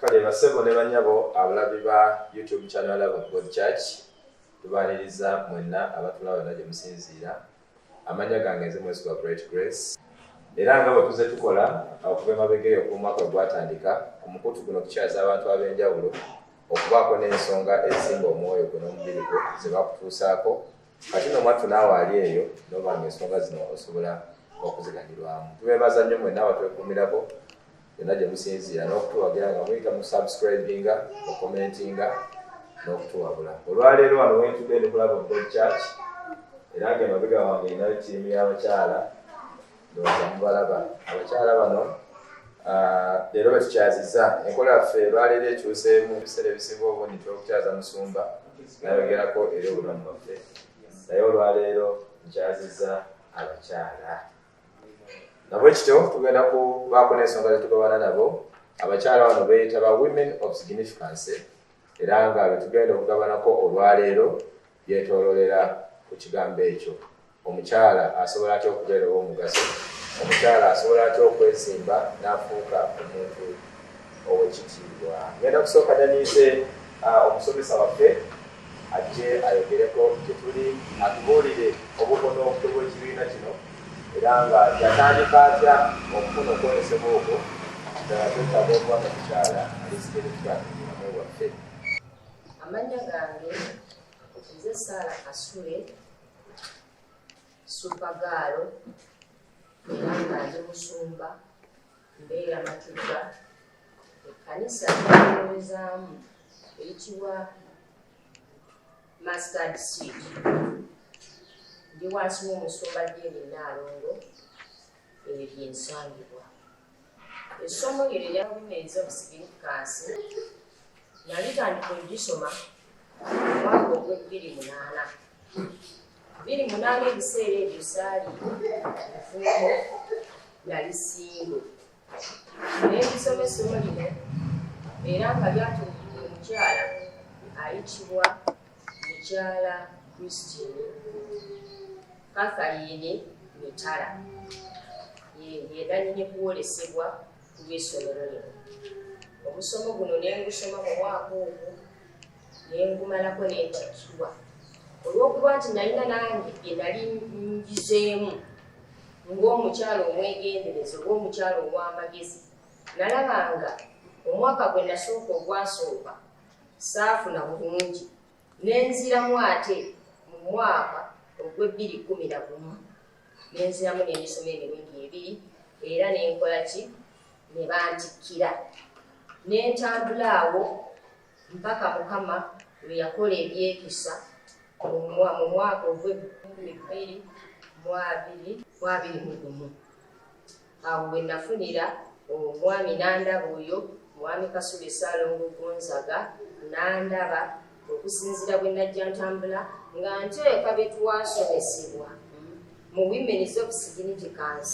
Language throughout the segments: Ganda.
kale basebo ne banyabo abalabi ba youtube channel love of god church tubaniriza mwenna abatulaba yonna gye musinziira amanya gange nze mwezi gwa bright grace era nga bwe tuze tukola okuva emabega eyo kumwaka gwatandika ku mukutu guno kukyaza abantu ab'enjawulo okubaako n'ensonga ezisimba omwoyo gwe n'omubiri gwe ze bakutuusaako kati no mwattu naawe ali eyo noba nga ensonga zino osobola okuziganirwamu tubebaza nnyo mwena abatwekumirako yonna gye musinziira n'okutuwagira nga muyita mu subscribinga okomentinga n'okutuwabula olwaleero wano wentudde ndi kulaba obod church era nga emabega wange erinayo ttiimu y'abakyala ndowooza mubalaba abakyala bano ah, leero batukyaziza enkola yaffe lwaleero ekyuseemu ebiseera ebisinga obundi twokukyaza musumba nayogerako eri obulamu bwaffe naye olwaleero nkyaziza abakyala nabwe kityo tugenda kubaako n'ensonga zetugabana nabo abakyala bano beyita ba women of significancy era nga betugenda okugabanako olwaleero byetololera ku kigambo ekyo Omukyala asobola atya okubeera ow'omugaso? Omukyala asobola atya okwezimba n'afuuka omuntu ow'ekitiibwa? Ngenda kusooka daniise omusomesa waffe ajje ayogereko gye tuli atubuulire obukono obutwe bw'ekibiina kino era nga yatandika atya okufuna okwolesebwa okwo ddala twetaaga okuba mu mukyala alisikirikiamulamwe waffe amannya gange nze saala kasule supagaalo era nga ndi musumba mbeera matugga ekkanisa eyoozaamu eyitibwa mastad seed ndi wansi w'omusumba jeeni naalongo ebyo byensangibwa essomo lyo erya women's of significance nalitandika ogisoma omwaka ogw'ebbiri munaana biri munaana ebiseera ebyo saali mufumbo nali singo nembisoma essomo lino era nga lyatulukira omukyala ayitibwa mukyala christine Catherine Mitala yeganyini kuwolesebwa ku lw'essomero lino omusomo guno nengusoma mu mwaka ogwo nengumalako nentakirwa olw'okuba nti nalina nange byenali njizeemu ng'omukyalo omwegendereza oba omukyalo ow'amagezi nalabanga omwaka gwe nasooka ogwasooka saafuna bulungi nenziramu ate mu mwaka ogw'ebbiri kkumi na gumu nenziramu n'emisomo emirundi ebiri era nenkola ki ne bantikkira nentambula awo mpaka mukama lwe yakola ebyekisa mu mwaka ogw'ebbiri mu abiri mu abiri mu gumu awo we nafunira omwami nandaba oyo mwami kasule salongo gonzaga nandaba okusinzira bwe najja ntambula nga nteeka bye twasomesebwa mu women's of significance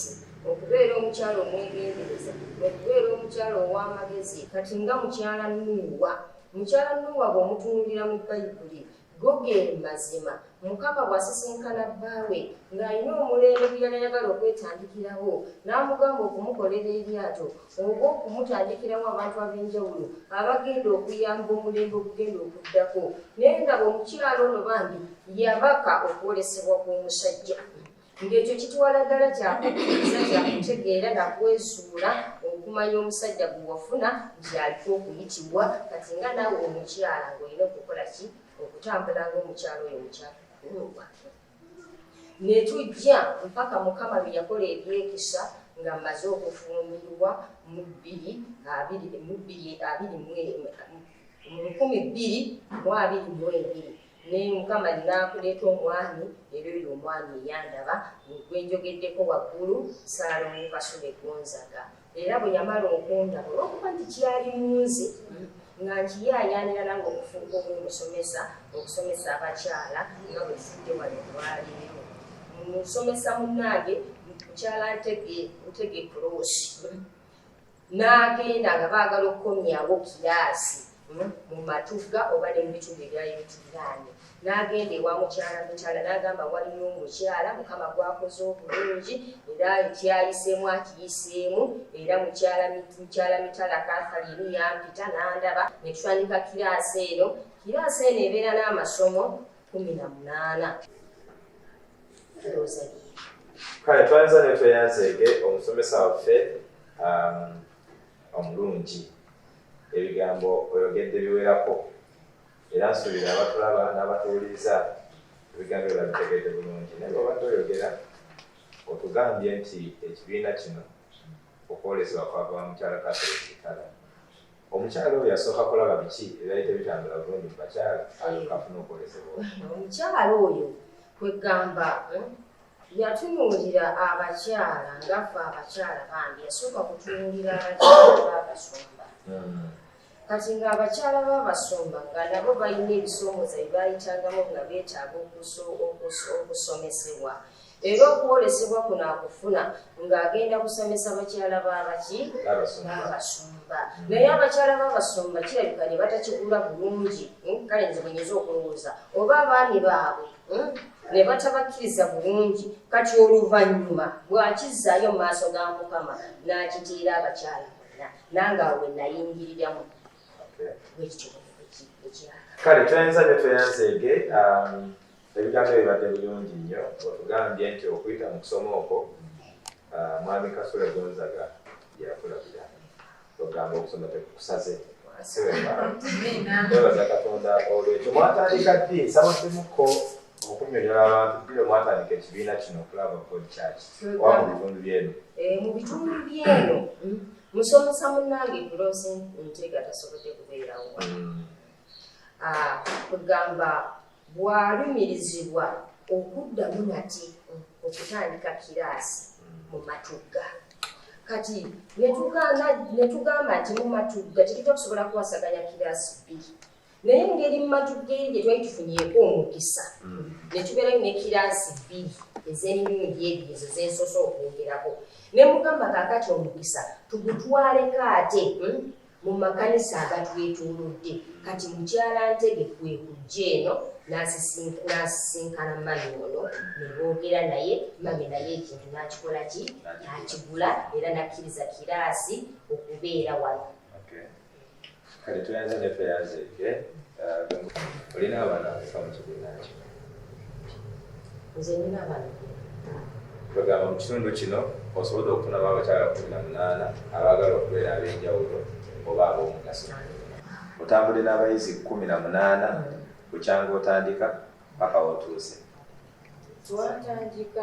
okubeera omukyalo omwegendereza okubeera omukyalo ow'amagezi kati nga mukyala nuuwa mukyala nuuwa bw'omutunuulira mu bayibuli Go ge mazima, Mukama bw'asisinkana bbaawe ng'alina omulembe gwe yali ayagala okwetandikirawo n'amugamba okumukolera eryato oba okumutandikirawo abantu ab'enjawulo abagenda okuyamba omulembe ogugenda okuddako naye nga bwe omukyalo ono bambi yabaka okwolesebwa kw'omusajja ng'ekyo kituwala ddala kyakukkiriza kyakutegeera nakwesuula okumanya omusajja gwe wafuna nti aliko okuyitibwa kati nga naawe omukyala ng'olina okukola ki okutambula ng'omukyala oyo mukyakukulwa ne tujja mpaka mukama lwe yakola ebyekisa nga mmaze okufumbirwa mu bbiri abiri mu bbiri abiri mu lukumi bbiri mu abiri mu ebiri naye mukama naakuleeta omwami era oyo omwami eyandaba gwenjogeddeko waggulu saalongo kasule gonzaga era bwe yamala okundaba olwokuba nti kyali munzi nga nkiyayaanira nange okufuuka omumusomesa okusomesa abakyala nga bwe tufudde wano olwaleero musomesa munnange mukyala ntege ntege kuloosi n'agenda nga baagala okukomyawo kiraasi hmm, mu matugga oba ne mu bitundu ebyali bituliraanye n'agenda ewa mukyala mitala n'agamba waliyo omukyala mukama gwakoze obulungi era ekyayiseemu akiyiseemu era mukyala mitala kathalini yampita n'andaba ne tutandika kiraasi eno kiraasi eno ebeera n'amasomo kumi na munaana kale twanza ne tweyanzeege omusomesa waffe um, omulungi ebigambo oyogedde biwerako era nsuubira abatulaba n'abatuwuliriza ebigambo ebyo babitegeedde bulungi naye bwebadde oyogera otugambye nti ekibiina kino okwolesebwa kwava mukyala kasolekitala omukyala oyo yasooka kulaba biki ebyali tebitambula bulungi mu bakyala alukafuna okwolesebwa omukyala oyo kwegamba eh, yatunuulira abakyala ngaffe abakyala bambi yasooka kutunuulira abakyala babasumba hmm. kati ng'abakyala babasumba nga nabo balina ebisoomoza byebayitangamu nga beetaaga okusomesebwa mm. era okwolesebwa kuno akufuna ng'agenda kusomesa bakyala baabaki baabasumba naye abakyala baabasumba kirabika ne batakigula bulungi hmm, kale nze bwenyinza okulowooza oba abaami baabwe hmm, ne batabakkiriza bulungi kati oluvannyuma bw'akizzaayo mu maaso ga mukama n'akitiira abakyala bonna nange awo we nayingiriramu bwekityo ekiraka kale tweyanza ne tweyanzeege um, Ebigambo ebyo bibadde bulungi nnyo otugambye nti okuyita mu kusoma okwo ah, mwami Kasule Gonzaga yakulabira ogamba okusoma tekukusaze twebaza Katonda olwekyo mwatandika ddi nsabaddemuko okunyonyola abantu biro mwatandika ekibiina kino okulaba God Church oba mu bitundu byeno eh, mu bitundu byeno musomesa munange kulose ntega tasobodde kubeerawo mm. kwegamba ah, bwalumirizibwa okuddamu nate okutandika kiraasi mu matugga kati netugamba nti mu matugga tekitwa kusobola kuwasaganya kiraasi bbiri naye ngeri mu matugga eri gye twali tufunyeeko omukisa mm. netubeerayo ne kiraasi bbiri ez'emirundi ebyo ezo zensose okwogerako ne mugamba kakati omukisa tugutwaleko ate hmm? mu makanisa agatwetoolodde. Kati Mukyala Ntege kwe kujja eno n'asisinkana mami ono ne boogera naye, mami naye ekintu n'akikola ki? N'akigula era n'akkiriza kiraasi okubeera wano. Kale tweyanze ne tweyanzeege. Uh, olina abaana abafa mu kibiina kino? nze nina abaana kwegamba mu kitundu kino osobodde okufunamu abakyala kumi na munaana abaagala okubeera ab'enjawulo oba ab'omugaso otambule n'abayizi kumi na munaana bukyanga otandika paka wotuuse twatandika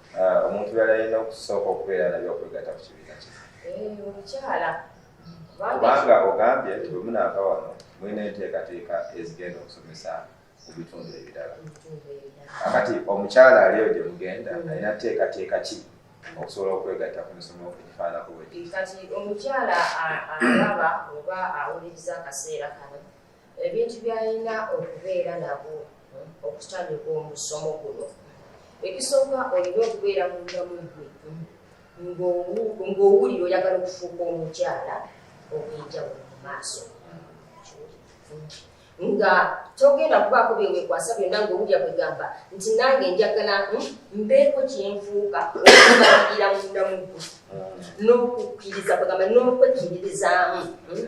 Ah, omuntu yali alina okusooka okubeera nabyo okwegata ku kibiina kye eh, omukyala kubanga ogambye nti bwemunaava wano mulina enteekateeka ezigenda okusomesa mu bitundu ebirala akati omukyala aliyo gye mugenda mm. alina teekateeka ki okusobola okwegatta ku misomo egifaanako bwe kati omukyala alaba oba awuliriza akaseera kano ebintu byalina okubeera nabo okutandika omusomo guno ekisooka olina okubeera mundamu gwe ng'owulira oyagala okufuuka omukyala obwenjawulo mu maaso nga togenda kubaako byewekwasa byonna ngaowulira kwegamba nti nange njagala hmm, mbeeko kyenfuuka okubagira mundamu gwe ah. n'okukkiriza kwegamba n'okwekkiririzaamu hmm.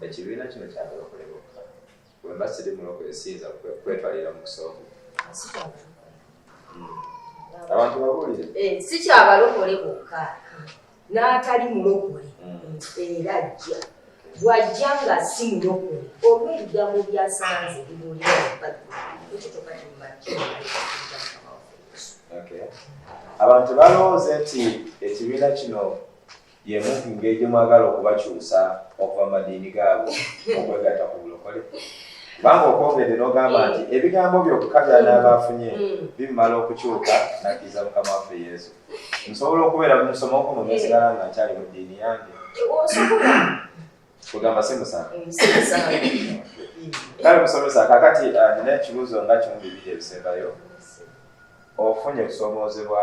ekibiina kino kyabalokole bokka wemba siri mulokole siyinza kwetwalira mu kusooka hmm. abantu babuulire eh, si kyabalokole bokka n'atali mulokole hmm. era ajja bwajja nga si mulokole oba ebigambo byasanze bibuulira mubaggi ekyo kyoka kimumakki abantu balowooza nti ekibiina kino yemu ku ngeri gye mwagala okubakyusa okuva mu madiini gaabwe okwegatta ku bulokole kubanga okwogedde n'ogamba nti mm. ebigambo byokka byanaaba afunye mm. mm. bimumala okukyuka nakkiriza mukama waffe yesu nsobola okubeera musomo kuno nesigala nga nkyali mu ddiini yange kugamba si musango kale musomesa kakati uh, nina ekibuuzo nga kimu bibiri ebisembayo ofunye okusomoozebwa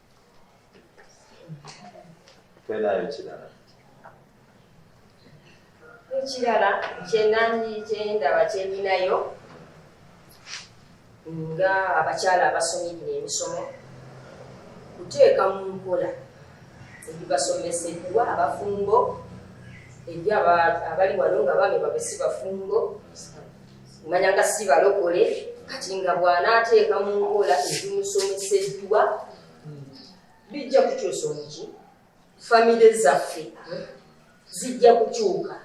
Penayo kirala. Ekirala kyenanyi kyendaba kyendinayo nga abakyala abasomye gino emisomo kuteeka mu nkola ebibasomeseddwa abafumbo eri abali wano nga bange babesi bafumbo omanya nga si balokole kati nga bw'anaateeka mu nkola ezimusomeseddwa bijja kukyusa omuki famire zaffe zijja kukyuka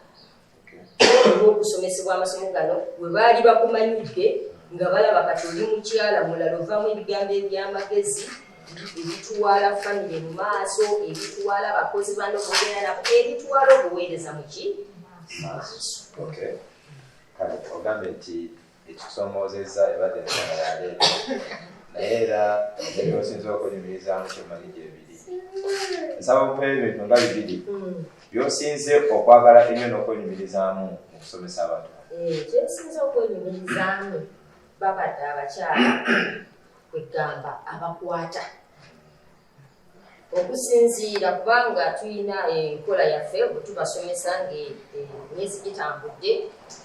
olw'okusomesebwa amasomo gano we baali bakumanyidde nga balaba kati oli mukyala mulala ovamu ebigambo eby'amagezi ebitwala famire mu maaso ebitwala abakozi bano bogera nabo ebitwala obuweereza muki maaso kale ogambye nti ekikusomoozezza ebadde ensonga ya leero naye era engeri osinza okunyumirizaamu kyemanyi gyebiri nsaba mupe ebintu nga bibiri byosinze okwagala ennyo n'okwenyumirizaamu mu kusomesa abantu eh, kyensinza okwenyumirizaamu babadde abakyala kwegamba abakwata okusinziira kubanga tulina enkola yaffe bwetubasomesa ngaemyezi eh, gitambudde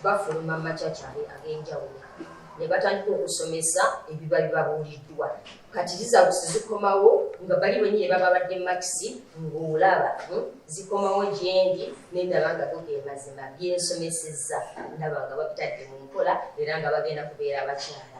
bafuluma macakyale ag'enjawulo ne batandika okusomesa ebiba bibabuuliddwa kati zizabusi zikomawo nga bali benyini baba badde makisi ng'olaba hmm, zikomawo gyendi nendaba nga gogemazima byensomesezza ndaba nga babitadde mu nkola era nga bagenda kubeera abakyala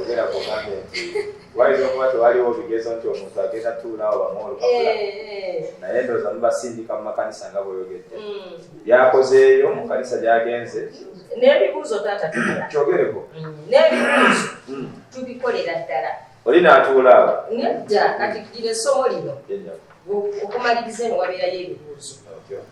ogera kugambye nti wayinza okuba tewaliwo bigezo nti omuntu agenda tuulawo bamuolukakula eh, eh. naye ndooza mubasindika mu makanisa nga bweyogedde mm. byakozeeyo mu kanisa gyagenze n'ebibuuzo taata kyogereko mm. n'ebibuuzo mm. tubikolera ddala oli n'atuulaawo nedda kati gira essomo lino okumaliriza eno wabeerayo ebibuuzo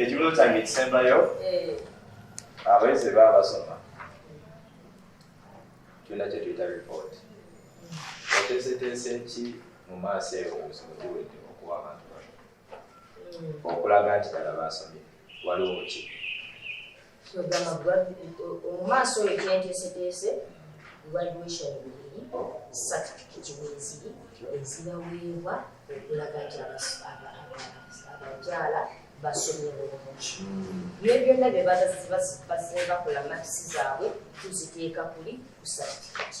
ekibuzo kyange ekisembayo eh. abayizi baba basoma tulina kyetuyita report oteeseteese ki mu maaso eyo obuzibu buwedde okuwa abantu bano hmm. okulaga nti dala basomye waliwo ki omumaaso oyo kyenteeseteese graduation bibiri certificate weziri ezibaweebwa okulaga nti abakyala basomye bulungi naye byonna bye bakola makisi zaabwe tuziteeka kuli ku certificate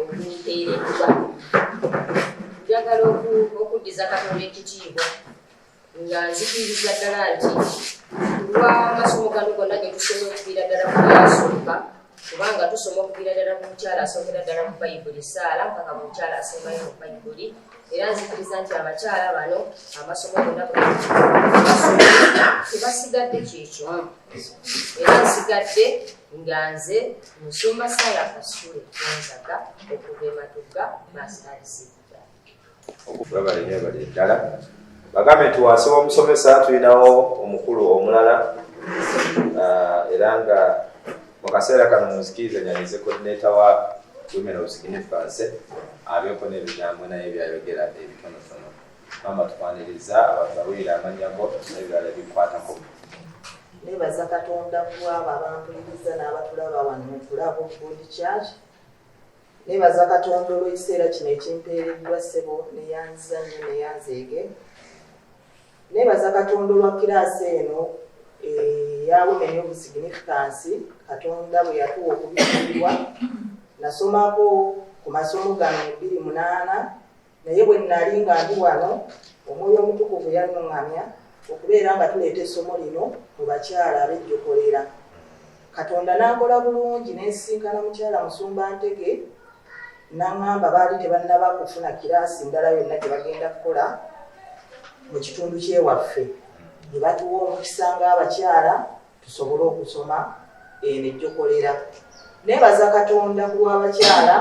okufiiriddwa njagala okuddiza katonda ekitiibwa nga nzikiriza ddala nti kulwa amasomo gano gonna ge tusoma okuviira ddala ku yasooka kubanga tusoma okuviira ddala ku mukyala asookera ddala mu bayibuli esaala mpaka mu mukyala asembayo mu bayibuli era nzikiriza nti abakyala bano amasomo gonna tebasigadde kyekimu era nsigadde nga nze musumba Sarah Kasule Gonzaga okuva e Matugga Masitalisibwa. Webale nnyo ebali eddala bagambe nti wansi w'omusomesa tulinawo omukulu omulala ah, era nga mu kaseera kano muzikiriza nyanize kodineta wa women of significance abeeko n'ebigambo naye byayogera ebitonotono mama twaniriza abantu bawulira amanya go nebirala bikwatako nebaza katonda kulwabo abampuliriza n'abatulaba wano mukulabo good church nebaza katonda olw'ekiseera kino ekimpeereddwa ssebo neyanziza nnyo neyanzeege nebaza katonda olwa kiraasi eno eyawumenya obusignifikansi katonda bwe yatuwa okubikiribwa nasomako ku masomo gano ebiri munaana Naye bwe nnali nga ndi wano, Omwoyo Omutukuvu yannuŋŋamya okubeera nga tuleeta essomo lino mu bakyala abejjokolera. Katonda n'ankola bulungi ne nsisinkana Mukyala Musumba Ntege, n'aŋŋamba baali tebannaba kufuna kiraasi ndala yonna gye bagenda kukola mu kitundu ky'ewaffe, ne batuwa omukisa ng'abakyala tusobole okusoma eno ejjokolera nebaza katonda ku lw'abakyala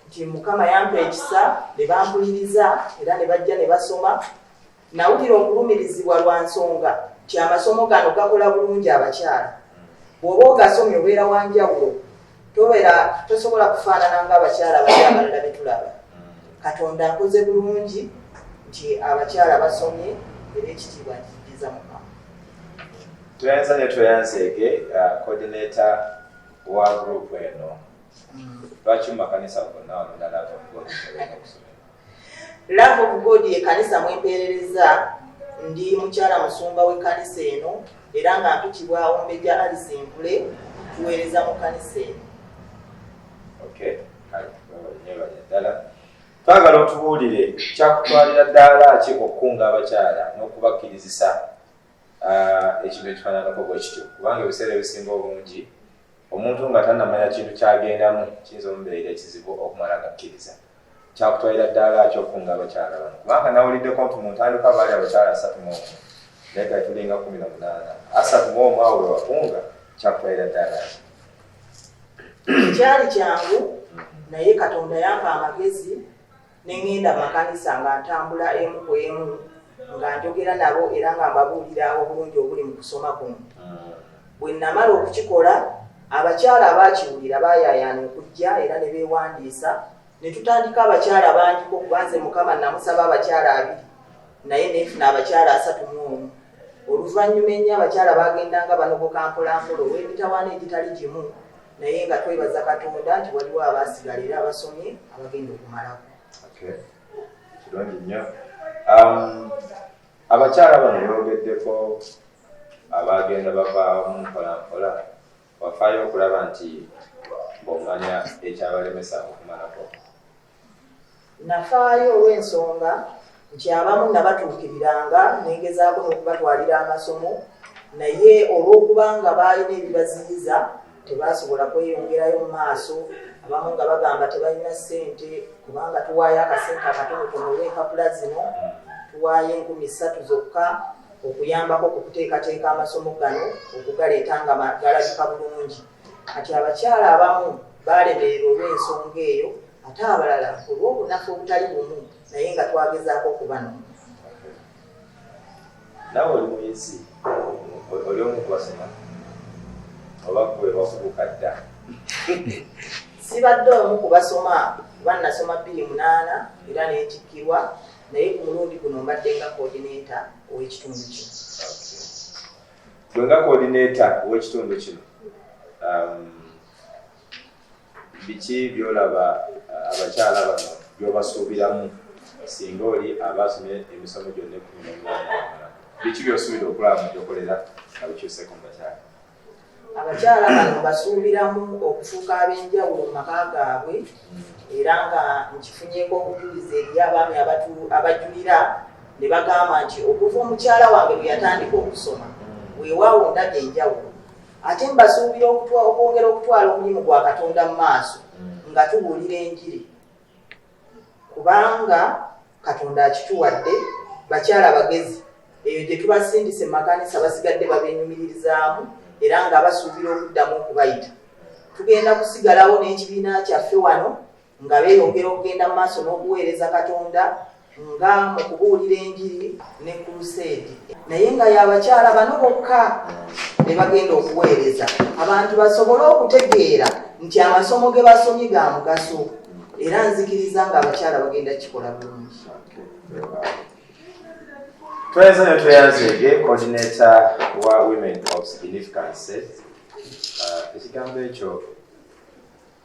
nti mukama yampa ekisa ne bampuliriza era ne bajja ne basoma nawulira okulumirizibwa lwa nsonga nti amasomo gano gakola bulungi abakyala bw'oba ogasomye obeera wanjawulo tobera tosobola kufaanana ng'abakyala abali abalala betulaba katonda akoze bulungi nti abakyala basomye era ekitiibwa nkijiza mukama tweyanza ne tweyanzeege uh, coordinator wa group eno mm. lwaki mumakanisa gonna olunalaba okuba okusomera Love of God ye kanisa mwempeerereza ndi mukyala musumba we kanisa eno era nga mpitibwa ombeja Alice Nkule tuweereza mu kanisa eno. Okay. Ddala twagala otubuulire kyakutwalira ddaala ki okukunga abakyala n'okubakkirizisa ah, ekintu ekifaananako bwe kityo kubanga ebiseera ebisinga obungi omuntu nga tanamanya kintu kyagendamu kiyinza omubeera ekizibu okumala gakkiriza kyakutwalira ddaala ki okukunga abakyala bano kubanga nawuliddeko nti mu ntandikwa baali abakyala asatu mu omu naye kati tulinga kumi na munaana asatu mu omu awo wewakunga kyakutwalira ddaala ki kyali kyangu naye katonda yampa amagezi ne ŋŋenda makanisa nga ntambula emu ku emu nga njogera nabo era nga mbabuulira obulungi obuli mu kusoma kuno ah. bwe namala okukikola abakyala abaakiwulira baayayaana okujja era ne beewandiisa ne tutandika abakyala bangiko kubanze mukama namusaba abakyala abiri naye neefuna abakyala asatu mu omu oluvannyuma ennyo abakyala baagendanga banogoka mpolampola olw'emitawaana egitali gimu naye nga twebaza katonda nti waliwo abaasigala era abasomye abagenda okumalako kirungi nnyo um, abakyala bano bogeddeko abagenda bavaamu mpolampola wafaayo okulaba nti bomanya ekyabalemesa okumalako nafaayo olw'ensonga nti abamu nabatuukiriranga nengezaako n'okubatwalira amasomo naye olw'okubanga baalina ebibaziyiza tebasobola kweyongerayo mu maaso abamu nga bagamba tebalina ssente kubanga tuwaayo akasente akatonotono olw'empapula zino tuwaayo enkumi ssatu zokka okuyambako ku kuteekateeka amasomo gano okugaleeta nga galabika bulungi kati abakyala abamu baalemererwa olw'ensonga eyo ate abalala olw'obunafu obutali bumu naye nga twagezaako okubanona nawe oli muyizi oli omu kubasoma oba gwe wakubuka dda sibadde omu kubasoma kuba nasoma bbiri munaana era netikkirwa naye ku mulundi guno mbadde nga kodineta ow'ekitundu kino gwe nga kodineta ow'ekitundu kino um, Biki by'olaba uh, abakyala bano by'obasuubiramu singa oli abaasomye emisomo gyonna ekkumi n'omunaana amala? Biki by'osuubira okulaba mu gyokolera nga bikyuseeko mu bakyala? Abakyala bano basuubiramu okufuuka ab'enjawulo mu maka gaabwe era nga nkifunyeeko obujulizi eri abaami abajulira ne bagamba nti okuva omukyala wange lwe yatandika okusoma weewaawo ndabye enjawulo ate mbasuubira okwongera okutwala omulimu gwa katonda mu maaso mm. nga tubuulira enjiri kubanga katonda akituwadde bakyala bagezi eyo gye tubasindise makanisa basigadde babenyumiririzaamu era nga basuubira okuddamu okubayita tugenda kusigalawo n'ekibiina kyaffe wano nga beeyongera okugenda mu maaso n'okuweereza katonda nga mu kubuulira enjiri ne kuluseedi naye nga y'abakyala bano bokka be bagenda okuweereza abantu basobole okutegeera nti amasomo ge basomye ga mugaso era nzikiriza nga abakyala bagenda kikola bulungi twezo ne tweyanzeege kodineta wa women of significance uh, ekigambo ekyo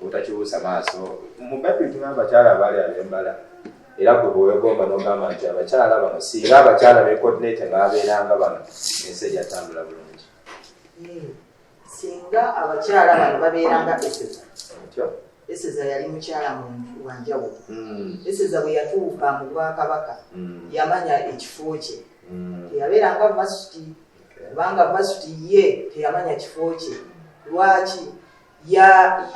obutakibuusa maaso mu bayibuli tugamba abakyala abaali abembala era gwe bwewegomba nogamba nti abakyala bano singa abakyala bekodinate nga babeeranga bano ensi ejatambula bulungi hmm. singa abakyala bano babeeranga eseza eseza yali mukyala wanjawulo hmm. eseza bwe yatuuka mu bwakabaka hmm. yamanya ekifo kye teyabeeranga masiti kubanga vasuti ye teyamanya kifo kye lwaki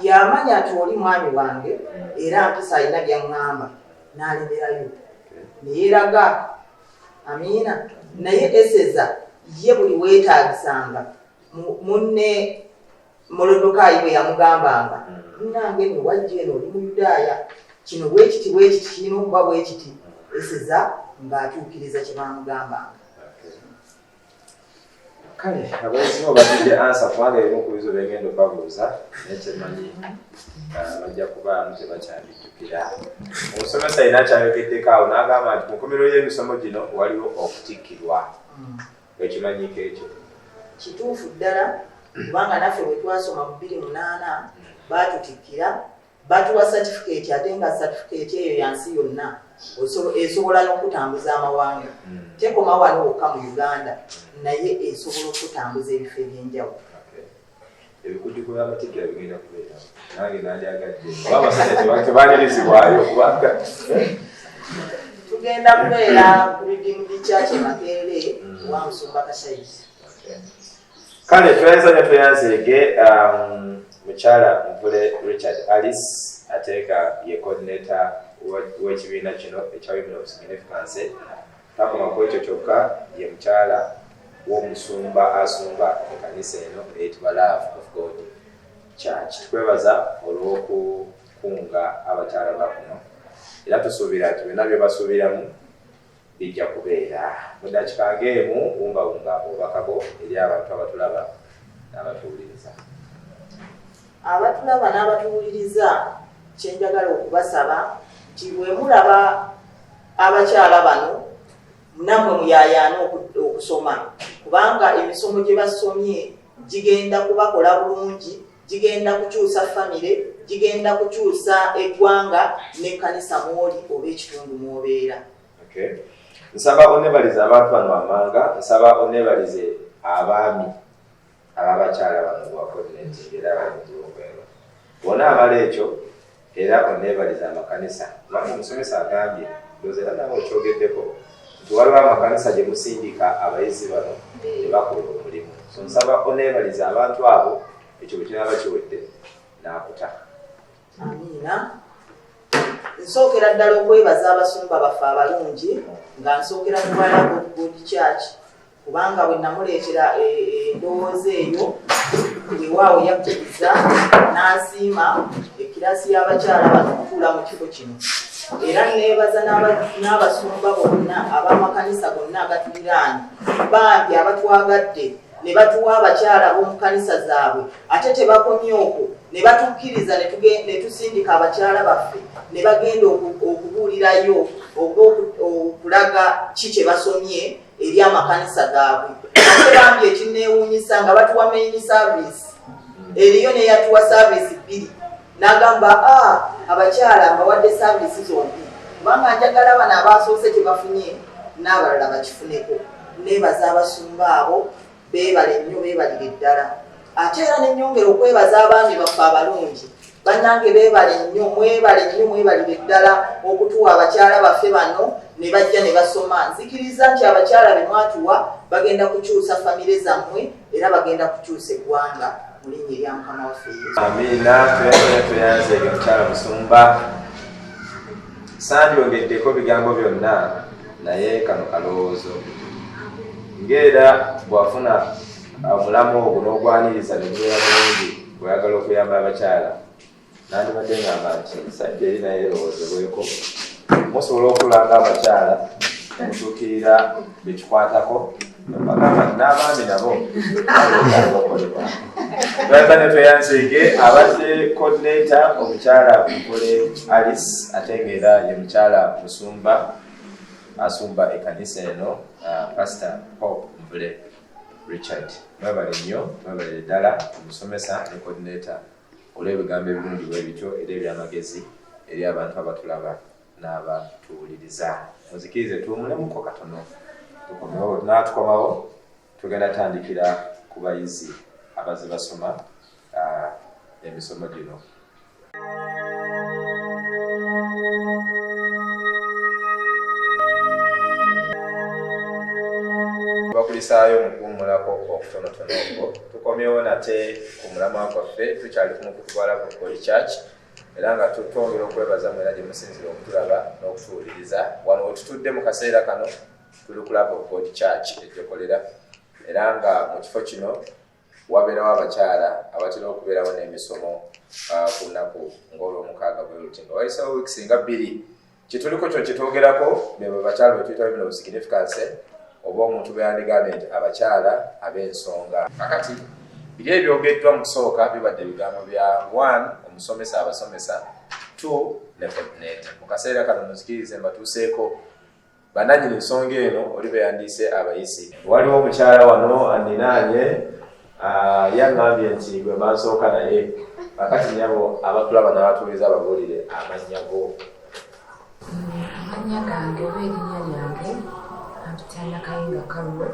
yamanya nti oli mwami wange era mpisa alina byaŋŋamba n'alemerayo neyeraga amiina naye eseza ye buli weetaagisanga munne molodokaayi bwe yamugambanga munange no wajja eno oli muyudaaya kino bwekiti bwekiti kirina okuba bwekiti eseza ng'atuukiriza kye baamugambanga kale abayizimu bagidde ansa kubanga ebimu ku bizo byegenda obabuuza naye kyemanyi ah, bajja kubaamu tebakyabijjukira omusomesa yina akyayogeddeko awo n'agamba nti mukomero y'emisomo gino waliwo okutikkirwa ekimanyiko ekyo kituufu ddala kubanga naffe bwe twasoma mu biri munaana baatutikkira batuwa satifikeeti ate nga satifikeeti eyo yansi yonna esobola n'okutambuza amawanga hmm. tekoma wano wokka mu uganda hmm. naye esobola okutambuza ebifo ebyenjawulo tugenda kubeera ku bidimu bikyakye makeere hmm. wa musumba kasaizi kale tweyanza nyo tweyanzeege um, mukyala mvule richard alice ate nga ye coordinator w'ekibiina kino ekya women of significance takoma ku ekyo kyokka ye mukyala w'omusumba asumba ekanisa eno eyitibwa love of god church tukwebaza olw'okukunga abakyala bakuno era tusuubira nti byonna bye basuubiramu Bijja kubeera mu dakika nga emu. Wumbawumba obubaka bwo eri abantu abatulaba n'abatuwuliriza. Abatulaba n'abatuwuliriza, kye njagala okubasaba nti bwe mulaba abakyala bano namwe muyayaana okusoma kubanga emisomo gye basomye gigenda kubakola bulungi gigenda kukyusa famire gigenda kukyusa eggwanga n'ekkanisa mwoli oba ekitundu mwobeera nsaba onebalize abantu bano wamanga nsaba onebalize abaami ababakyala bano bwakonetingeera balimutulokwero bona abala ekyo Era onneebalize amakanisa kubanga omusomesa agambye, ndowooza era naawe okyogeddeko, nti waliwo amakanisa gye musindika abayizi bano ne bakola omulimu. So nsaba onneebalize abantu abo ekyo bwe kinaaba kiwedde n'akuta. Amiina. Nsookera ddala okwebaza abasumba baffe abalungi nga nsookera ku balaga obugodi kyaki. kubanga bwe namuleetera e, e, endowooza eyo wewaawo yakkiriza n'asiima ekiraasi y'abakyala bano okutuula mu kifo kino era neebaza n'abasumba bonna ab'amakanisa gonna agatuliraanye bambi abatwagadde ne batuwa abakyala ab'omu kanisa zaabwe ate tebakomye okwo ne batukkiriza ne tusindika abakyala baffe ne bagenda okubuulirayo oba okulaga ki kye basomye eri amakanisa gaabwe ate bambi ekinneewuunyisa nga batuwa maini saavisi eriyo neyatuwa saavisi bbiri n'agamba a ah, abakyala mbawadde saavisi zombi kubanga njagala bano abaasoose kye bafunye n'abalala bakifuneko neebaza abasumba abo beebale nnyo beebalire ddala ate era nenyongera okwebaza abaami baffe abalungi bannange beebale nnyo mwebale nnyo mwebalire ddala okutuwa abakyala baffe bano ne bajja ne basoma nzikiriza nti abakyala be mwatuwa bagenda kukyusa famire zammwe era bagenda kukyusa eggwanga mu linnya erya mukama waffe yesu amiina tweyanze tweyanze ebyo mukyala musumba Sandyogeddeko bigambo byonna naye kano kalowoozo ng'era bw'afuna omulamu ogwo n'ogwaniriza ne gubeera bulungi bweyagala okuyamba abakyala nandibadde ngamba nti sajja eri naye erowoozebweko musobola okulanga abakyala mutuukirira bekikwatako n'abaami nabo twagana tweyanzeege abadde coordinator omukyala mukole alice ate ngaera ye mukyala musumba asumba ekanisa eno uh, pastor hope mvule richard mwebale nnyo mwebale ddala omusomesa ne coordinator olw'ebigambo ebirungi bwe bityo era ebyamagezi eri abantu abatulaba n'abatuwuliriza muzikirize tuwumulemuko katono tukomewo natukomawo tugenda tandikira ku bayizi abaze basoma ah, emisomo gino bakulisaayo mukuwumulako okutonotono okwo tukomyewo nate ku mulamwa gwaffe tukyali ku mukutu gwalabu koli church era nga twongera okwebaza mwena gye musinzira okutulaba n'okutuwuliriza wano wetutudde mu kaseera kano tuli kulaba okod church egyokolera era nga mu kifo kino wabeerawo abakyala abatera okubeerawo n'emisomo ah, ku lunaku ng'olwomukaaga bweruti nga wayisawo wiiki singa bbiri kituliko kyo kyetwogerako bebo bakyalo betuyita bino signifikanse oba omuntu beyandigambye nti abakyala ab'ensonga kakati biri ebyogeddwa mu kusooka bibadde ebigambo bya one omusomesa abasomesa two ne coordinator mu kaseera kano muzikirize mbatuuseeko bananyini nsonga eno oli beyandiise abayisi waliwo omukyala wano andinaanye Ah, yagambye nti gwe mansooka naye kakati nyabo abatulaba nabatuuliza ababuulire amannya go amannya gange oba erinnya lyange ampitana kayinga kalulo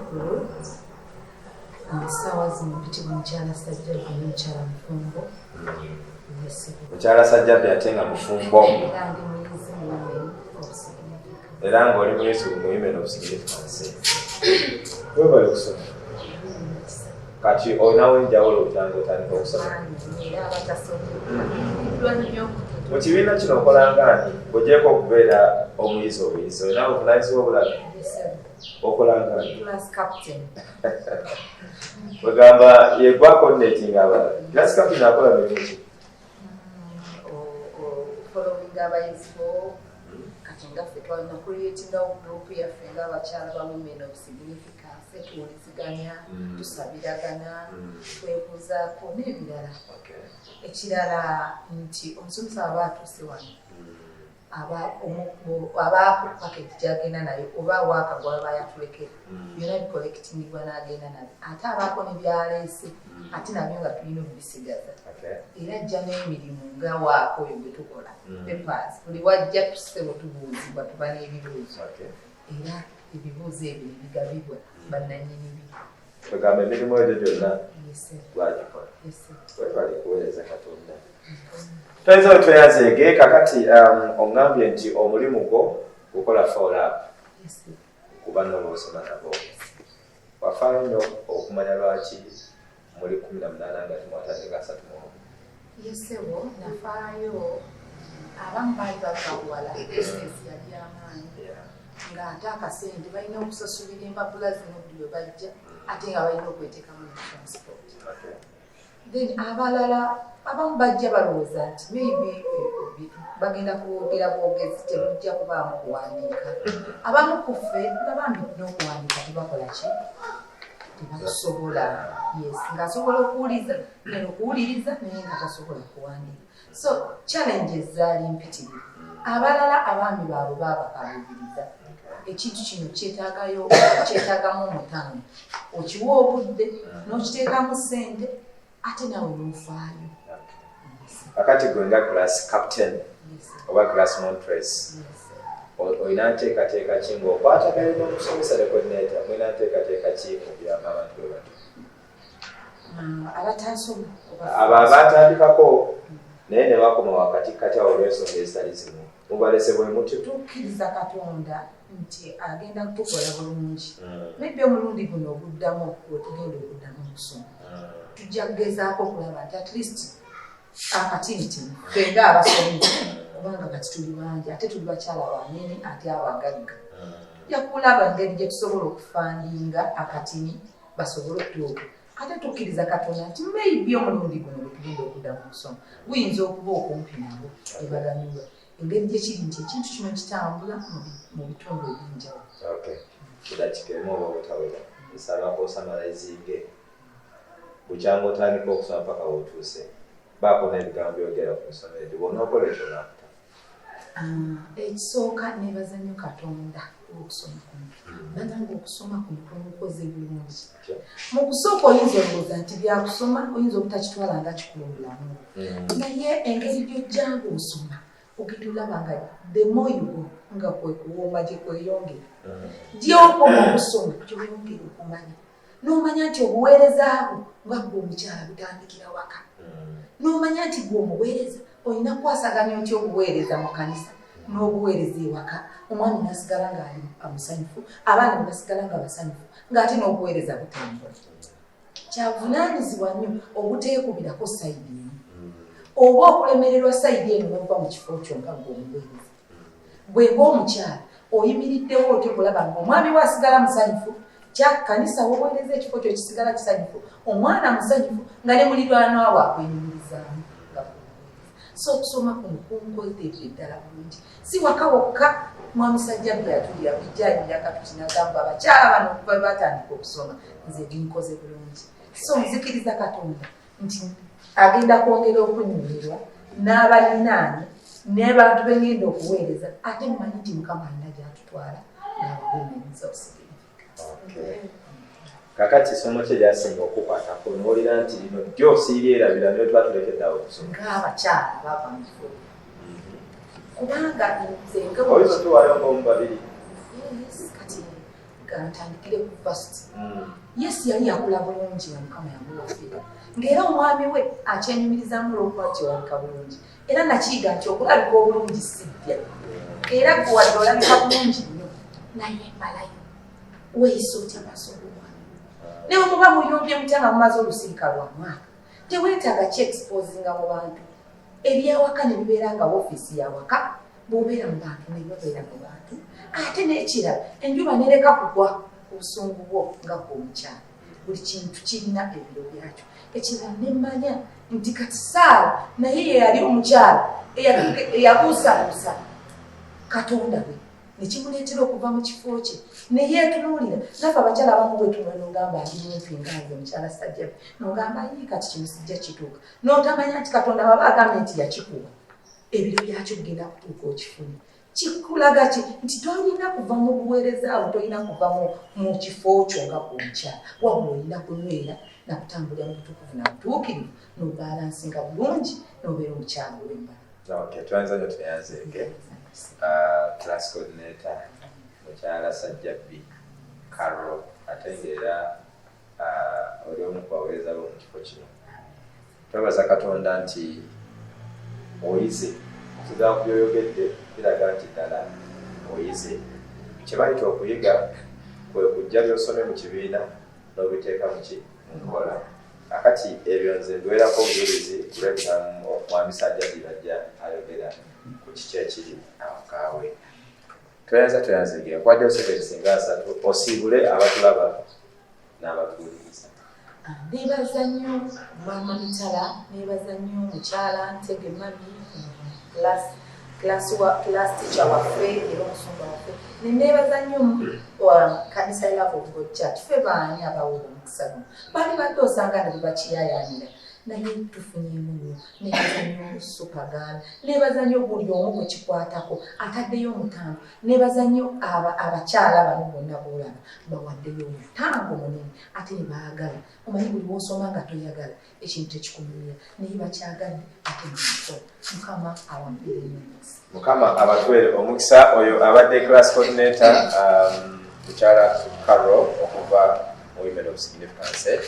nga essaawa zino mpitibwa mukyala sajja gwe nomukyala mufumbo mukyala sajjabi ate nga mufumbo era ngaoli muyesu muyimena obusigirifanse webale okusoma kati olinawo enjawulo okyanga otandika okusoma mu kibiina kino okolanga ani ogyeko okubeera omuyizi obuyizi olinawo obulaizi wobulaga okolanga ani bagamba yegwa coordinating abala class captain akola miki following abayizi bo kati nga ffe twalina creatingawo group yaffe nga abakyala ba women of significance tuwuliziganya mm. tusabiragana mm. twebuuzaako n'ebirala ekirala nti omusomesa aba atuuse wano mm. abaakukka keti gyagenda nayo oba waaka gwaba yatulekera mm. byona bikolekitinibwa n'agenda nabyo ate abaako ne byaleese mm. ate nabyo nga tulina okubisigaza era ajja n'emirimu nga waaka oyo gwe tukola mm. pepas buli wajja tusebo tubuuzibwa tuba n'ebibuuzo era ebibuuzo ebyo nebigabibwa bannanyini bi Tugamba emirimu egyo gyonna lwagikola. Webale kuweereza Katonda. Toyinza wetweyazeege kakati um, oŋŋambye nti omulimu gwo gukola foolap kuba n'olwosoma nabo. Wafaayo nnyo okumanya lwaki muli kumi na munaana nga timwatandika asatu mu omu. Ye ssebo nafaayo abamu baali babakuwala bisinesi yali amaanyi nga ate akasente balina okusasulira empapula zino buli we bajja ate nga balina okweteekamu ne transport then abalala abamu bajja balowooza nti maybe bagenda kwogera bwogezi tebujja kubaamu kuwandiika abamu ku ffe nga bambi n'okuwandiika tebakola ki tebakusobola yes ng'asobola okuwuliza neno okuwuliriza naye nga tasobola kuwandiika so challenges zaali mpitirivu abalala abaami baabwe baabakaluubiriza ekintu kino kyetaagayo kyetaagamu omutano okiwa obudde n'okiteekamu ssente ate nawe nofaayo akati gwe nga class captain oba class montres olina nteekateeka ki ngaokwatagana nomusomesa ne coordinator mulina nteekateeka ki mubiramu abantu bwe bati ah, abo abatandikako naye ne bakoma wakati kati awo olwensonga ezitali zimu mubalese bwe mutyo tukkiriza katonda nti agenda kutukola bulungi naybe hmm. omulundi guno oguddamu wetugenda okuddamu okusoma hmm. tujja kugezaako okulaba nti at least akati nti fenga abasomi kubanga kati tuli bangi ate tuli bakyala banene ate abagagga hmm. yakulaba ngeri gyetusobola okufandinga akatini basobole okutuuka ate tukkiriza katonda nti maybe omulundi guno wetugenda okuddamu okusoma guyinza okuba okumpi nabo ebaganyulwa engeri gye kiri nti ekintu kino kitambula mu bitundu eby'enjawulo kidakikemu oba obutawera nsaba osamalayizinge bukyanga otandika okusoma mpaka wotuuse baako n'ebigambo byogera ku nsoma egyo bwonookola ekyo nakuta ah, ekisooka nebaza nnyo katonda okusoma kuno banange okusoma kuno kwemukoze bulungi mu kusooka oyinza olowooza nti byakusoma oyinza obutakitwala nga kikulu bulamu mm. naye engeri gyojjanga osoma ogenda olaba nga the more you go nga kwekuwooma gyekweyongera mm. gyokoma okusoma gyoyongera okumanya n'omanya nti obuweereza bwo nga gwe omukyala butandikira waka hmm. n'omanya nti gwe omuweereza olina kukwasaganya otya obuweereza mu kanisa n'obuweereza ewaka omwami nasigala nga amusanyufu abaana nebasigala nga basanyufu ngaate n'obuweereza butambula kyavunanyizibwa nnyo obuteekubirako sayidi emu hmm. oba okulemererwa sayidi eno nova mu kifo kyo nga gwe omuweereza gwe ng'omukyala oyimiriddewo otyo kulaba nga omwami we asigala musanyufu kyakanisa woweereza ekifo kyo kisigala kisanyufu omwana musanyufu nga ne mulirwanwa waakwenyumirizaamu so okusoma kuno kunkoledde ddala bulungi si waka wokka mwamusajja bwe yatulira bujjayinda katuti nagamba abakyala bano okuva batandika okusoma nze binkoze bulungi so nzikiriza katonda nti agenda kwongera okunnyumirwa n'abalinaani n'abantu be ngenda okuweereza ate mmanyi nti mukama alina gy'atutwala n'abagumiiriza osigirifika kakati esomo kye lyasinga okukwatako nowulira nti lino ddyo siryerabira nyo tuba tulekedde awo okusoma ngaabakyala bava mu kikulu mhm. kubanga nze nga oyo tuwalongomu babiri kati kantandikire ku fast hmm. yes yali yakula bulungi nga mukama yamuwafira ngaera omwami we akyenyumirizamu olwokubakiwalika bulungi era nakiyiga nti okulabika obulungi sibbya era gwe wadde olabika bulungi nnyo naye malayo weyisa otya maaso gomwami ne bwemuba muyombye mutya nga mumaze olusirika lwa mwaka tewetaaga ki exposinga mu bantu ebyawaka ne bibeera nga woofiisi yawaka bwobeera mu bantu nebabeera mu bantu ate n'ekirala enjuba nereka kugwa obusungu bwo nga gwomukyalo buli kintu kirina ebiro byakyo ekirala nemanya nti kati saala naye yeyali omukyalo eyabuusabuusa katonda we nekimuleetera okuva mu kifo kye neyeetunuulira nafe abakyala abamu bwetunula nogamba ali mumpi ngaayo omukyala sajjabe nogamba yii kati kino sijja kituuka n'otamanya nti katonda baba agambye nti yakikuwa ebiro byakyo bigenda kutuuka okifune kikulaga ki nti tolina kuva mu buweereza awo tolina kuva mu kifo kyo nga kunkya wabula olina kunywera nakutambulira mu butukuvu na butuukirivu nobalansinga bulungi nobeera omukyalo wembala mukyala sajjabbi karo ate ngaera oli omu kubawereza bo mu kifo kino twebaza katonda nti oyize okuva ku byoyogedde biraga nti ddala oyize kyebayita okuyiga kwe kujja byosome mu kibiina n'obiteeka muki mu nkola akati ebyo nze mbiwerako obujulizi kulwebinamu mwamisajja bibajja ayogera ku kiki ekiri awo kaawe toyanza toyanza engira kwajja osebere singa asatu osiibule abatulaba n'abatuwuliriza ah, nebaza nnyo maama mitala nebaza nnyo mukyala ntege mami klastica waffe era omusumba waffe nenebaza nnyo kanisa love of god church fe baani abawula omukisa guno bali badde osanga ne bebakiyayanira naye tufunyemu nnyo nebaza nyo supaganda nebaza nyo buli omu gwekikwatako ataddeyo omutango nebaza nyo abakyala bano bonna bolaba bawaddeyo omutango munene ate nebaagala omanyi buli wosoma nga toyagala ekintu tekikunyumira naye bakyagadde ate nso mukama awambirenyonsi mukama abatwere omukisa oyo abadde class coordinator um, mukyala carol okuva mu women of significance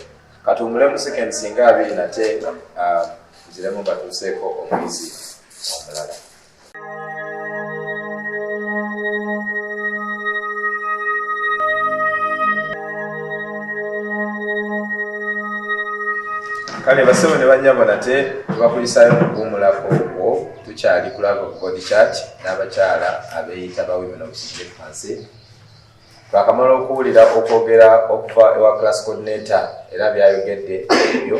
katumbule mu second singa abiri nate ah, ziremu batuuseeko omuyizi omulala kale basebo ne banyabo nate tubakulisayo mukuwumulako ogwo tukyali kulava ku body chart n'abakyala abeeyita ba women of sigefancy twakamala okuwulira okwogera okuva ewa class coordinator era byayogedde ebyo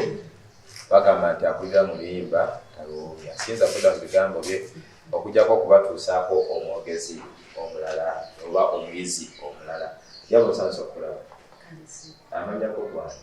bagamba nti akulira mu luyimba taluwuumya siyinza kuda mu bigambo bye okujjako okubatuusaako omwogezi omulala oba omuyizi omulala yaba osansa okulaba amanyako gwani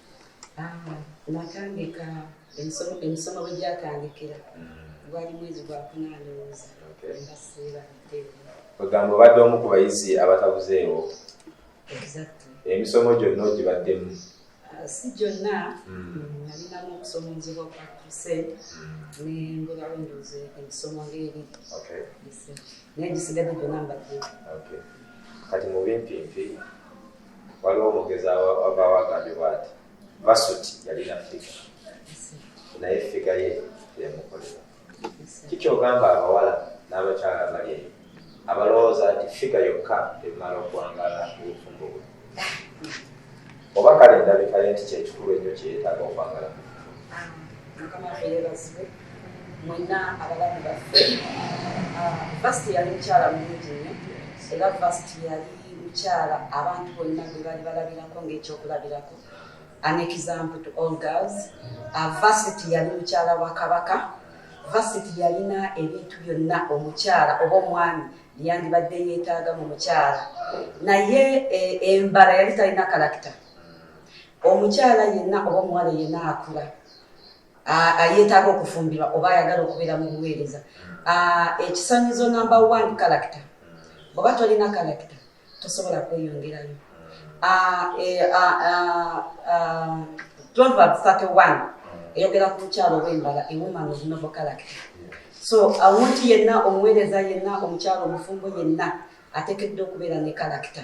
natandika emisomo bwe gyatandikira gwali mwezi gwa kunandowooza nga siibadde kwegamba obadde omu ku bayizi abatabuzeewo emisomo gyonna ogibaddemu ah, si gyonna hmm. nalinamu okusomozebwa kwa kise hmm. nengulawo ndoze emisomo ngaeri naye gisigadde gyonna mbadde kati mubimpimpi waliwo omugezi avaawo agambibwa nti masut yalina figa naye figa ye teyamukolera kikyogamba abawala n'abakyala abali eyo abalowooza nti figa yokka emala okwangala obufumbo bwe oba kale endabikaye nti kyekikulu ennyo kyeyetaaga okwangala ah, mwenna abalamu baffe vasti ah, yali mukyala mulungi nnyo era vasti yali mukyala abantu bonna gwe bali balabirako ngaekyokulabirako an example to all girls ah, vasiti yali mukyala wa kabaka vasiti yalina ebintu byonna omukyala oba omwami yandibadde yeetaaga mu mukyala naye eh, embala yali talina kalakita omukyala yenna oba omuwala yenna akula ayetaaga okufumbirwa oba ayagala okubeera mu buweereza ekisanyizo number one character oba tolina character tosobola kweyongerayo e, proverb 31 eyogera ku mukyalo owembala ewoman of novel character so awunti yenna omuweereza yenna omukyalo omufumbo yenna atekedde okubeera ne kalakita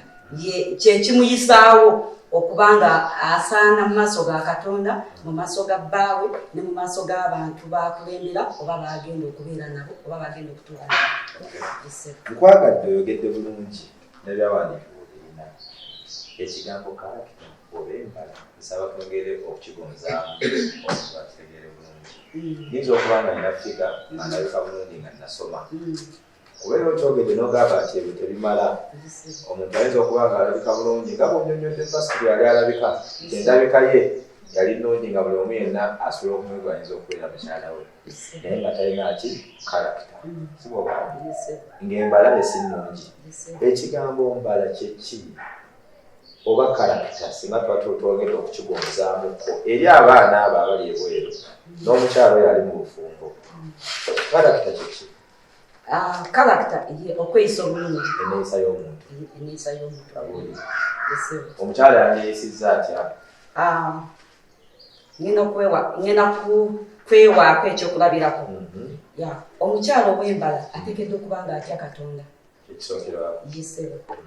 kyekimuyisaawo okuba nga asaana mu maaso ga katonda mu maaso ga bbaawe ne mu maaso g'abantu bakulembera oba bagenda okubeera nabo oba bagenda okutuula nkwagadde oyogedde bulungi nebyawandiikibwa obirina ekigambo kalakita oba embala nsaba twongere okukigonzaamu okuba kitegeere bulungi mm. yinza okuba nga nina figa nga naleka bulungi nga nasoma mm. kuba era okyogedde nogamba nti ebyo tebimala omuntu ayinza okuba nga alabika bulungi nga bwonyonyodde pasito yali alabika endabika ye yali nungi nga buli omu yenna asobola okumwega ayinza okubeera mukyala we naye nga talina ki kalakita siboba ngaembala esi nungi ekigambo mbala kyeki oba kalakita singa tuba twogenda okukigonzaamuko eri abaana abo abali ebweru n'omukyalo yali mu bufumbo kalakita kyeki kalakita ah, ye okweyisa obulungi eneyisa y'omuntu eneyisa y'omuntu omukyala yandiyisiza atya ah, ngenda kwewa ngenda kwewaako ekyokulabirako mhm. omukyala ow'embala atekedde okuba nga atya katonda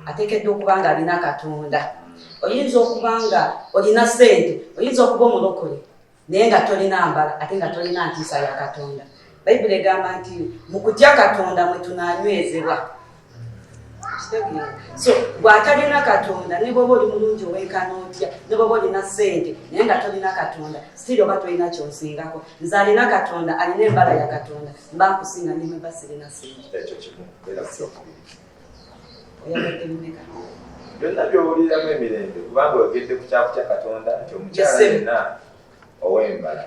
ateekeddwa okuba nga alina katonda oyinza okuba nga olina sente oyinza okuba omulokole naye nga tolina mbala ate nga tolina ntiisa ya katonda bayibuli egamba nti mu kutya katonda mwe tunanywezebwa so bwatalina katonda ne bwoba oli mulungi owenkana otya ne bwoba olina sente naye nga tolina katonda sitiri oba tolina kyonsingako nze alina katonda alina embala ya katonda mba nkusinga nimweba sirina sente byonna byowuliramu emirembe kubanga oyogedde ku kyakutya katonda nti omukyala yenna owembala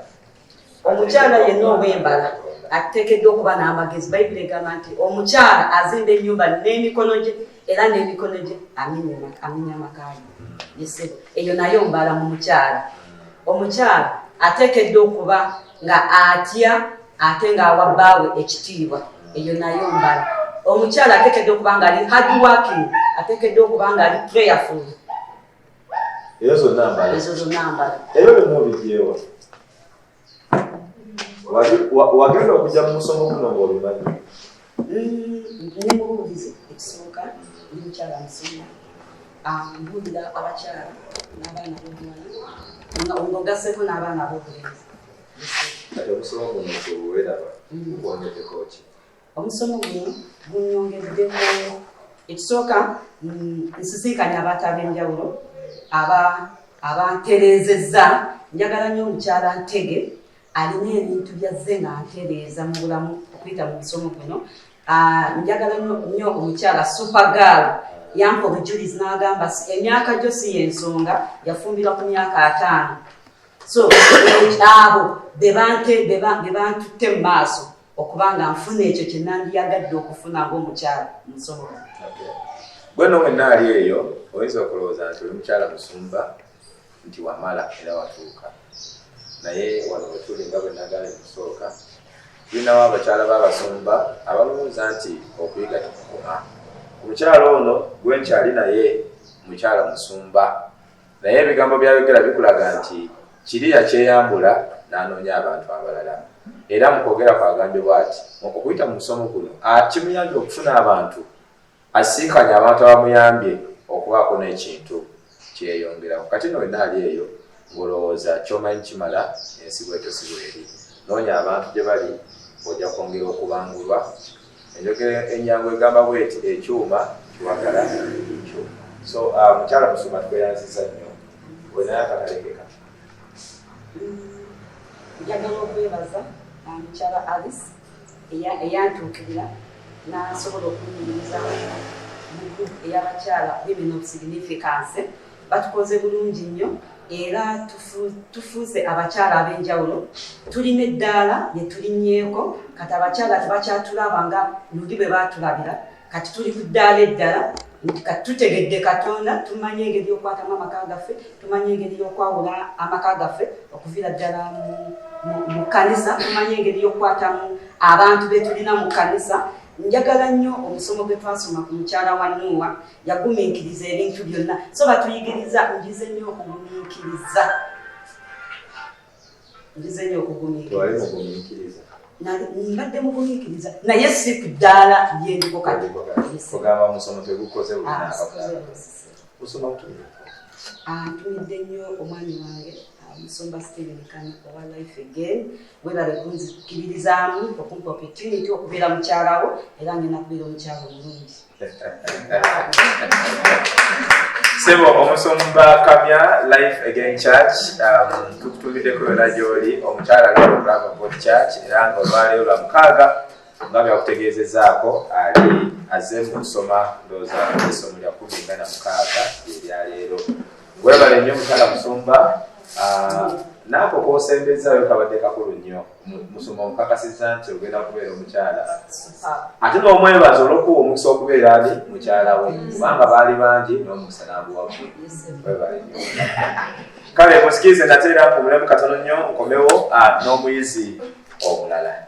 omukyala yenna owembala atekeddwa okuba n'amagezi bayibuli egamba nti omukyala azimba enyumba n'emikono gye era n'emikono gye aminya amakayo yesebo eyo naye ombala mu mukyala omukyala ateekedde okuba nga atya ate ng'awa bbaawe ekitiibwa eyo nayo mbala omukyala ateekedde okuba nga ali hard working ateekedde okuba nga ali prayerful eyo zonna mbala ezo zonna mbala ebyo byonna obigyewa wagenda okujja mu musomo guno ng'obimanyi Nemubuulize ekisooka ndi mukyala musoma ambuulira abakyala n'abaana bobuwala nga ogaseko n'abaana bobulenzi kati omusomo guno gweweraba gukwongedeko mm. ki omusomo guno gunyongeddeko ekisooka mm, nsisinkanya abantu ab'enjawulo abantereezezza njagala nnyo omukyala ntege alina ebintu byazze nga ntereeza mu bulamu okuyita mu musomo guno ah, njagala nnyo omukyala supergal yampa obujulizi n'agamba emyaka gyo si y'ensonga yafumbirwa ku myaka ataano so abo be bantutte mu maaso okuba nga nfuna ekyo kye nandiyagadde okufuna ng'omukyala musomo gweno wenna ali eyo oyinza okulowooza nti oli mukyala musumba nti wamala era watuuka naye wano wetuli nga bwe nagambye mu kusooka tulinawo abakyala b'abasumba abalowooza nti okuyiga tekukoma omukyala ono gwe nkyali naye mukyala musumba naye ebigambo byayogera bikulaga nti kiri yakyeyambula n'anoonya abantu abalala era mu kwogera kwagambye bwati okuyita mu musomo guno kimuyambye okufuna abantu Asisinkanye abantu abamuyambye okubaako n'ekintu kye yeeyongerako. Kati nno wenna ali eyo ng'olowooza ky'omanyi kimala ensi bw'etyo si bw'eri. Noonya abantu gye bali ojja kwongera okubangulwa. Enjogera ennyangu egamba bw'eti, Ekyuma kiwagala kyuma. So, uh, Mukyala Musumba tukweyanziza nnyo. Olinayo akatale ke kati? Njagala okwebaza uh, Mukyala Alice. eyantuukirira n'asobola okunyumiriza mu group ey'abakyala women of significance batukoze bulungi nnyo era tufuuse abakyala ab'enjawulo tulina eddaala lye tulinnyeeko kati abakyala tebakyatulaba nga luli bwe baatulabira kati tuli ku ddaala eddala nti kati tutegedde katonda tumanyi engeri yokwatamu amaka gaffe tumanyi engeri yokwawula amaka gaffe okuviira ddala mu kanisa tumanyi engeri yokukwatamu abantu betulina mu kanisa njagala nnyo omusomo gwe twasoma ku mukyala wa nuuwa yagumiikiriza ebintu byonna so batuyigiriza njize nnyo okugumiikiriza nzizenyo okugumiikiriza mbadde mugumiikiriza naye si ku ddaala lyeriko katiogamba musomo tegukoze usoma kutumira antumidde nnyo omwami wange musumba steven kan owa life again webale kunzikiririzaamu okumpa opportunity okubeera mukyalawo era ngenda kubeera omukyalo omulungi sebo omusumba kamya life again church um, tukutumiddeko yona gyoli omukyala lwolulava bot church era nga olwaleero lwa mukaaga nga byakutegeezezaako ali aze mu kusoma ndooza esomo lya kumi nga na mukaaga eryaleero webale nnyo mukyala musumba uh, naako kosembezzayo kabadde kakulu nnyo musoma omukakasiza nti ogenda kubeera omukyala ate nomwebaza olwokuwa omukisa okubeera ali mukyala we kubanga baali bangi nomukisa naguwaku webale nyo kale musikiize nateera kumulemu katono nnyo nkomewo ah, n'omuyizi omulala